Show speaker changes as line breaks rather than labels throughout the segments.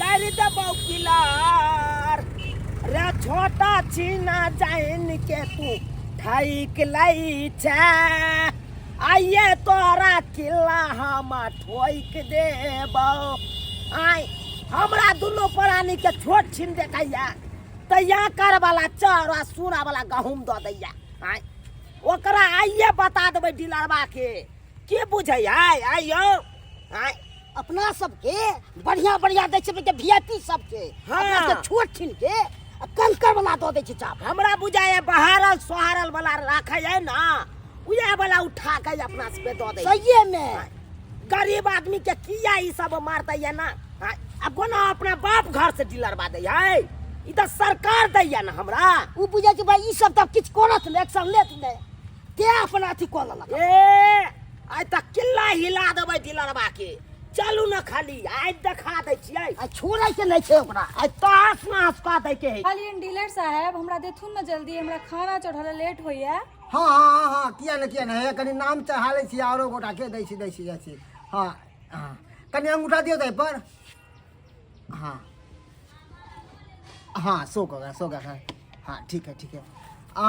कर दबौ किलार रे छोटा छीना जाइन के तू ठैक लै छै आइए तोरा किला हम ठोक देबौ आइ हमरा दुनू प्राणी के छोट छीन देखैया तैया कर वाला चर आ सूरा वाला गहूम दऽ दैया आइ ओकरा आइए बता देबै डीलरबा के की बुझै आइ आइयो आय अपना सबके
बढ़िया बढ़िया दै छै के वीआईपी सबके हाँ। अपना के छोट
छिन
के आ कंकर वाला दऽ दै छै चाप हमरा बुझाइए
बहारल सोहारल वाला राखै है ना उहे वाला उठा के अपना सबके दऽ दै छै। सहिए मे
गरीब
आदमी के किया ई सब मारते है ना आय, आ कोना अपना बाप घर से दिलरवा दै है ई तऽ सरकार दै है ना हमरा उ बुझै छै भाई ई
सब तब किछु करत ने एक्शन लेत ने के अपना अथी कऽ लेलक ए
आइ तक किल्ला हिला देबै दिलरबा के चलू ने खाली आइ देखा दै छियै आ छोड़ै के नहि
छै ओकरा आइ तहस नहस
कऽ दै के है खाली डीलर साहब
हमरा देथुन ने जल्दी हमरा खाना चढ़ल लेट होइए हँ हँ हँ हँ
किया ने किया ने हे कनि नाम चढ़ा लै छी आरो गोटा के दै छी दै छी जाइ छी हँ हँ कनि अंगूठा दियौ ताहि पर हँ हँ सो कऽ गया सो गया है हँ ठीक है ठीक है आ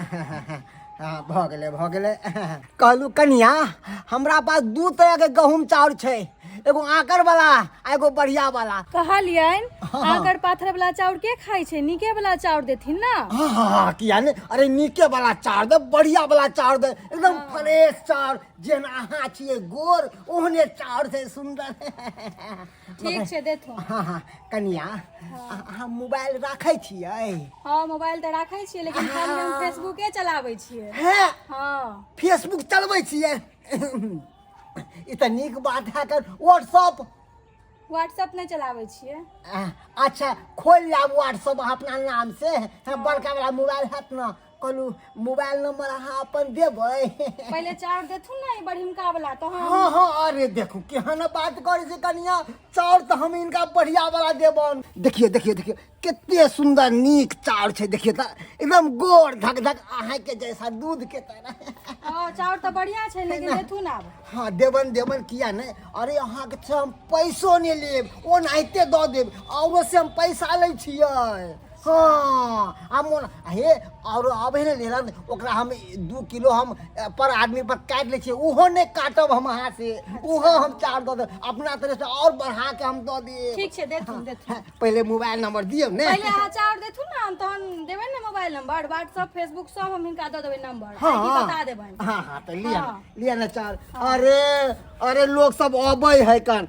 हाँ, भऽ गेलै भऽ गेलै कहलू कनिया हमरा पास दू तरह के गहूम चाउर छै एगो आकर वाला आ एगो बढ़िया वाला कहलियन हाँ।
आकर पाथर वाला चाउर के खाई छै नीके वाला चाउर देथिन ना हाँ हाँ हाँ किया ने
अरे नीके वाला चाउर दे बढ़िया वाला चाउर दे एकदम फ्रेश चाउर जेना अहाँ छियै गोर ओहने चाउर छै सुंदर
ठीक छै देथु हँ हँ कनिया अ-
अहाँ मोबाइल राखै छियै हँ मोबाइल तऽ
राखै छियै लेकिन खाली हम फेसबुके चलाबै छियै हे हँ
फेसबुक
चलबै
छियै ई तऽ नीक बात है कर व्हाट्सअप व्हाट्सएप नहि चलाबै
छियै अच्छा
खोलि लेब व्हाट्सअप अपना नाम से बड़का वाला मोबाइल हैत ने कोनो मोबाइल नंबर अहाँ अपन देबै पहिले चाउर
देथुन ने ई बड़िमका वाला तो हम हाँ हाँ अरे देखो
केहन बात करे छै कनिया चाउर तऽ हम इनका बढ़िया वाला देबन देखिए देखिए देखिए कते सुंदर नीक चाउर छै देखिए तऽ एकदम गोर धक धक अहाँ के जैसा दूध के तरह हाँ, चाउर तो बढ़िया
छै लेकिन देथुन आब हाँ देबन देबन
किया ने अरे अहाँ के से हम पैसो नहि लेब ओनाहिते दऽ देब औरो से हम पैसा लै छियै हाँ हम हे और अब है लेला ओकरा हम दू किलो हम पर आदमी पर काट ले ओहो ने काटब हम हाथ से ओहो हम चार दे अपना तरह से और बढ़ा के हम दे दिए ठीक छे दे तुम दे
हाँ, पहले मोबाइल
नंबर दियो ने पहले हां चार दे ना हम तहन
देबे ने मोबाइल नंबर व्हाट्सएप फेसबुक सब हम इनका दे देबे नंबर हां हाँ। बता देबे
हां हां
तो लिया
हाँ। लिया ना चार अरे अरे लोग सब अबै है कन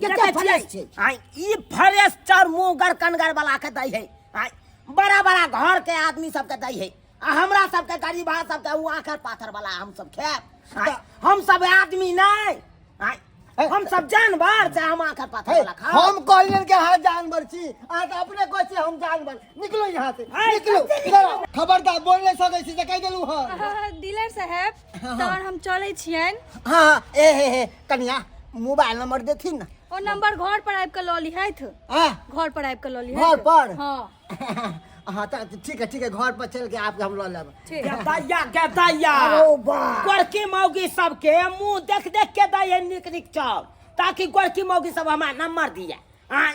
कते फ्रेश
छै
आ ई फ्रेश
चार मुंह गर कनगर वाला के दै है आ बड़ा बड़ा घर के आदमी सब के दै है आ हमरा सब के गरीब आ सब के उ आखर पाथर वाला हम सब खाएब आ हम सब आदमी नहीं आ हम सब जानवर से हम आखर पाथर हे, वाला खाएब हम कहलियन के हाँ
जानवर छी अहाँ तऽ अपने कहै छी हम जानवर निकलो यहाँ से है, निकलो कते निकलो? इधर आउ। खबरदार बोल नहीं सकै छी से कहि देलू हँ डीलर साहेब
हाँ, तहन हम चलै छियनि हाँ हाँ, ए हे
हे कनिया मोबाइल नंबर देथिन ना ओ नंबर घर पर
आबि कऽ लऽ लिहथि हाँ घर पर
आबि कऽ लऽ
लिहथि घर पर?
हँ
हाँ तो
ठीक है ठीक है घर पर चल के आपके हम लऽ लेब ठीक गेदाइया गेदाइया
अरे वाह। गोरकी मौगी सबके मुंह देख देख के दैये निक निक चाव ताकि गोरकी मौगी सब हमार नंबर दिया आय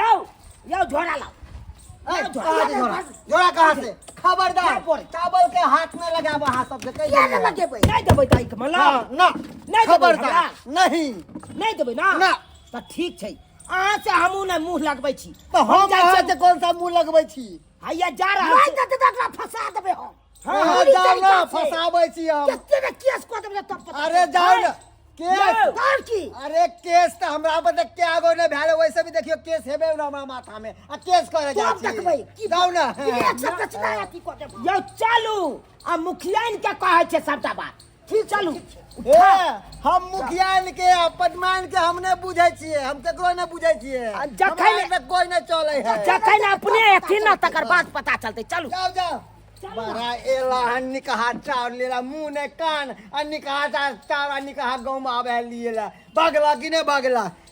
यौ
यौ झोरा लाओ जोड़ा
कहाँ से खबरदार चावल के हाथ में लगाब अहाँ सब देखे नहीं लगेबै नहीं
देबै दाई के मला ना नहीं
खबरदार
नहीं
नहीं देबै ना
ना त ठीक छै अहाँ से हमहूँ ने मुँह लगबै छी तऽ हम जाइ छियै अहाँके
कोन सा मुँह लगबै छी हैया जा रहल छी
नहीं देतै तऽ एकरा फंसा
देबै हम हँ हँ चोरी जाउ ने
तरीका से। फसाबै छी हम कते ने केस कऽ देबै
तब पता अरे चलतै। जाउ ने
केस तोहर की अरे
केस तऽ
हमरा पर तऽ कए गो नहि भेल वैसे भी देखियो केस हेबे ने हमरा माथा मे आ केस करे जाइ तब छी देखबै की जाउ
ने विवेक सब
रचना
अथी कऽ देबै यौ चलू
आ मुखियाइन के कहै छै सबटा बात फिर चलू ए
हम मुखियान के आ पदमान के हम ने बुझै छियै हम केकरो ने बुझै छियै आ जखन- हमरा आर में कोई
ने चलै है
जखन अपने एथिन
ना तकर बाद पता चलतै चलू जाओ जाओ
बड़ा एला हन निकहा चाउर लेला मुंह ने कान आ निकहा चाउर चाउर आ निकहा गाँव में आवे है लिए ला भगला कि ने भगला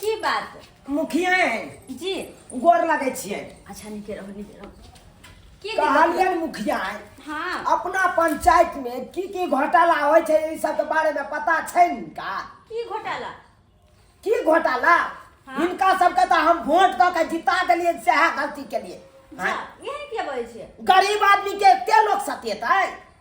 की बात मुखिया है
जी गोर
लगे छियै
अच्छा नीके रहो नीके
रहो की दिक्कत? कहलियन मुखिया
है हाँ अपना
पंचायत
में की की घोटाला होइ छै ई सब के बारे में पता छै इनका की
घोटाला की
घोटाला हाँ। इनका सबके तऽ हम वोट दऽ के जिता देलियै सएह गलती केलियै जा, एहन किया
बजै छियै गरीब आदमी के
एते लोग सतेतै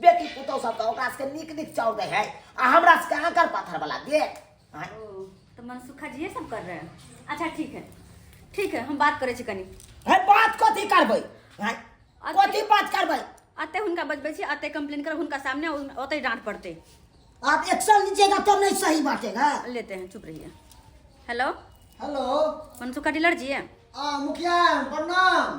बेटी पुतहु सबके ओकरा सबके नीक नीक चाउर दे है आ हमरा सबके आकर पाथर वाला दे आँय,
ओ तो मनसुखा जी ये सब कर रहे हैं अच्छा ठीक है ठीक है हम बात करे छी कनी है बात कथी
करबै आँय, कथी बात करबै अते हुनका बजबै
छी अते कंप्लेन कर हुनका सामने उन- ओते डांट पड़ते आप एक्शन
लीजिएगा तो नहीं सही बाटेगा लेते हैं चुप रहिए
hello hello
Mansukha dealer
ji है आ मुखिया
प्रणाम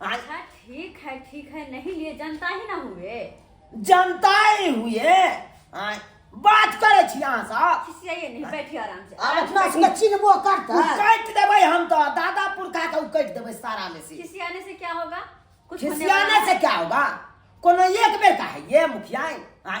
अच्छा ठीक
है ठीक है नहीं लिए जनता ही ना हुए जनता
ही हुए आय, बात करे छी अहाँ सब खिसियाइए नहीं बैठिए
आराम से आब अपना सबके चिन्हबो
करतै उ काटि देबै हम
तऽ दादा पुरखा के उ काटि देबै सारा में से खिसियाने से क्या होगा
कुछ होने वाला खिसियाने है? से क्या
होगा कोनो एक बेर का है ये मुखिया आय,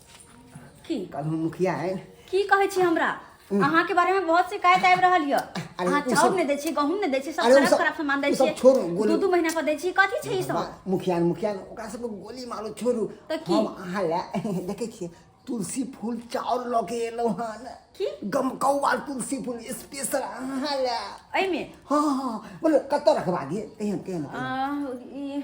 की कल हम मुखिया
है की कहै छी हमरा
अहाँ के बारे में बहुत शिकायत आबि रहल यऽ अरे अहाँ उ चाउर सब- नहि दै
छी गहूम नहि
दै छी सब
अरे
उ खराब सब- खराब सामान दै उ सब
छी
छोड़ू, गोली- दू दू महीना
पर दै छी कथी
छै ई सब बा- मुखिया ने, मुखिया ने, ओकरा
सबके गोली मारो छोड़ू तऽ की? हम अहाँ
लए
देखै छियै तुलसी फूल चाउर लऽ के एलहुँ हन की? गमकौआ
तुलसी
फूल स्पेशल अहाँ लए एहिमे
हाँ
हाँ बोलो कतऽ रखवा दिए तेहन तेहन आ, ई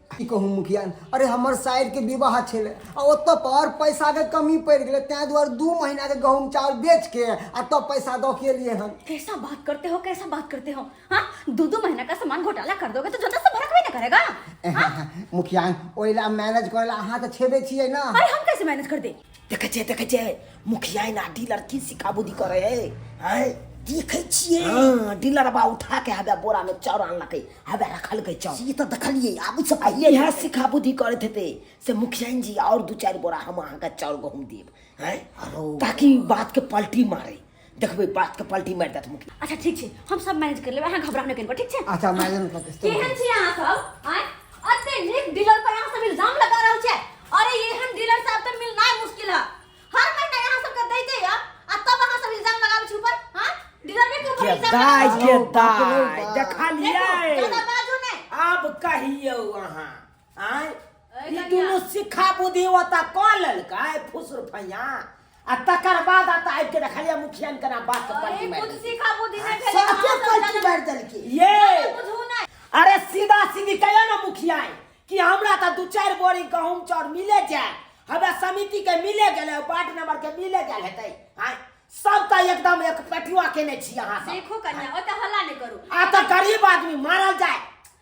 की कहू मुखिया
अरे हमर साइर के विवाह छलै आ ओतऽ पर पैसा के कमी पड़ गए तैं दुआरे दू महीना के गहूम चावल बेच के आ तब पैसा दऽ के लिए हन कैसा बात करते हो
कैसा बात करते हो हाँ दो दो महीना का सामान घोटाला कर दोगे तो जनता से भड़क भी ना करेगा मुखिया
ओइला मैनेज करेला अहाँ तऽ छेबे छियै ना अरे हम कैसे मैनेज कर दे
देखै छियै देखै छियै
मुखिया ना डीलर की सिकाबुदी करे है हैं देखै छियै हां डीलर बा उठा के हबे बोरा में चाउर आनलकै हबे रखलकै चाउर ई त देखलियै आब
से पहिले यह सिकाबुदी
करत हेते से मुखिया जी और दू चार बोरा हम अहाँ के चाउर गहूम देब हैं ताकि बात के पलटी मारे देखबै बात के पलटी मारि देत मुखिया अच्छा ठीक छै हम सब
मैनेज कर लेबै अहाँ घबराउ नहि कनिको ठीक छै अच्छा मैडम का किस्त केहन
छी अहाँ सब
आय अते नीक डीलर पर अहाँ सब इल्जाम लगा रहल छै अरे ये हम डीलर साहब तो मिलना मुश्किल है हर महीना अहाँ सब के दै दे या आ तब अहाँ सब इल्जाम लगाबै छी ऊपर हां डीलर ने के ऊपर इल्जाम दाय लगाबै के
दाय देखा लिया ज्यादा बाजू ने
अब कहियो
अहाँ आय अरे ई कनिया। दुनू सिक्खा
बुद्धि
ओता कऽ लेलका आय फुसुर फैया आ तकर बाद आता आबि के देखलिया मुखियन केना बात अरे पलटी मारि कुछ देलकै। सीखा बुद्धि नहीं भेले
सबके अहाँ सब पलटी जाने- मारि देलकै ये
बुझू
नहीं अरे
सीधा
सीधी कहिया ना मुखिया है कि हमरा तो दू चार बोरी गहूम चाउर मिले जाए हमरा समिति के मिले गेले वार्ड नंबर के मिले गेल हेतै आय सब तो एकदम एक पेटुआ केने छी अहाँ सब सीखू कन्या ओते हल्ला
नहीं करू आ तो गरीब
आदमी मारल जाए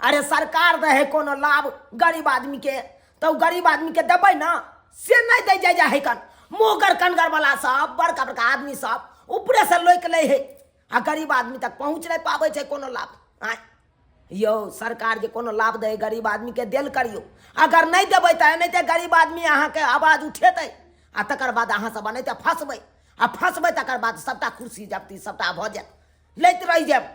अरे सरकार दे है कोनो लाभ गरीब आदमी के तो गरीब आदमी के देवे ना से नहीं दे जाए जाए कन मोगर कनगर वाला सब बड़का बड़का आदमी सब ऊपरे से लोक ले है आ गरीब आदमी तक पहुँच नहीं पावे है कोनो लाभ आय यो सरकार जे कोनो लाभ दे गरीब आदमी के दिल करियो अगर नहीं देवे तो नहीं तो गरीब आदमी अहाँ के आवाज उठेते आ तक बाद अहाँ सब नहीं तो फंसबे आ फंसबे तक बाद सबटा कुर्सी जबती सबटा भऽ जायत लैत रहि जायब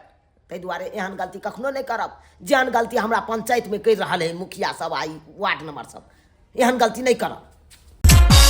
ताहि दुआरे एहन गलती कखनो नहि करब जेहन गलती हमरा पंचायतमे करि रहल हइ मुखिया सब आ ई वार्ड नंबर सब एहन गलती नहि करब